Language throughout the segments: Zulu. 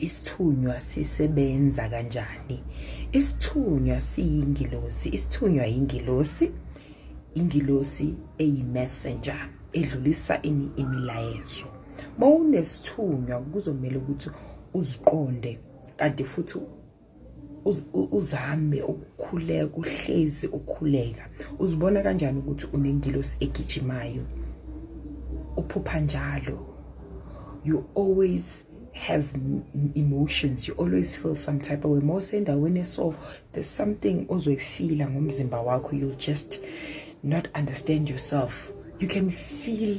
Isithunywa sisebenza kanjani? Isithunywa siyingilosi. Isithunywa yingilosi, ingilosi eyi-messenger edlulisa ini imilayezo. Mawunesithunywa kuzomela ukuthi uziqonde kanti futhi uzame ukukhuleka uhlezi ukhuleka uzibona kanjani ukuthi unengilosi egijimayo uphupha njalo you always have emotions you always feel some type of way more sendaweni so there's something ozoyifila ngomzimba wakho you just not understand yourself you can feel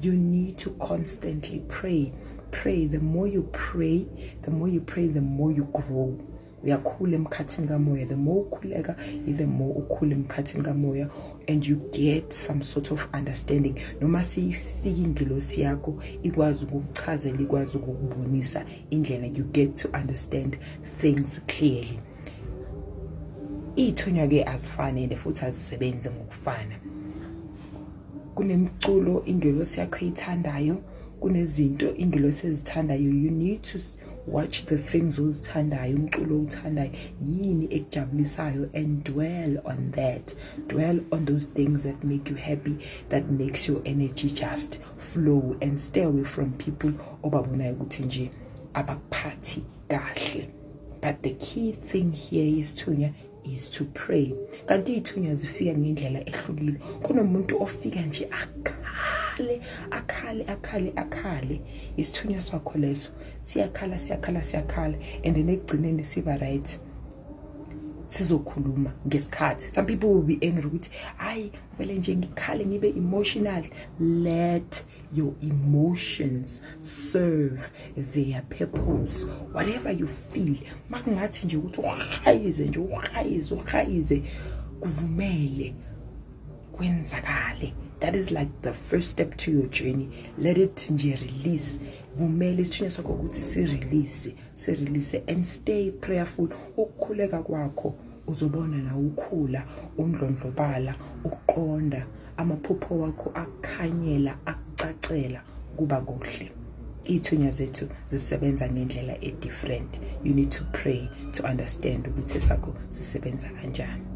You need to constantly pray. Pray. The more you pray, the more you pray, the more you grow. uyakhula emkhathini kamoya the more ukhuleka the more ukhula emkhathini kamoya and you get some sort of understanding noma siyifika ingelosi yakho ikwazi ukukuchazela ikwazi ukukubonisa indlela you get to understand things clearly iy'thunywa-ke azifani and futhi azisebenzi ngokufana kunemculo ingelosi yakho eyithandayo kunezinto ingelosi ezithandayo you need to watch the things ozithandayo umculo owuthandayo yini ekujabulisayo and dwell on that dwell on those things that make you happy that makes your energy just flow and stay away from people obabonayo ukuthi nje abakuphathi kahle but the key thing here is to is to pray kanti iy'thunywa zifika ngendlela ehlukile kunomuntu ofika nje akhale akhale akhale akhale isithunywa sakho leso siyakhala siyakhala siyakhala and nekugcineni siba right sizokhuluma ngesikhathi some people will be angry ukuthi hayi kumele nje ngikhale ngibe emotional let your emotions serve their purpose whatever you feel makungathi nje ukuthi uhayize nje uhayize uhayize kuvumele kwenzakale that is like the first step to your journey let it nje release vumele isithunywa sakho ukuthi si-release si-release and stay prayerful ukukhuleka kwakho uzobona nawe ukhula undlondlobala ukuqonda amaphupho wakho akukhanyela akucacela kuba kuhle ithunya zethu zisebenza ngendlela e-different you need to pray to understand ukuthi sakho sisebenza kanjani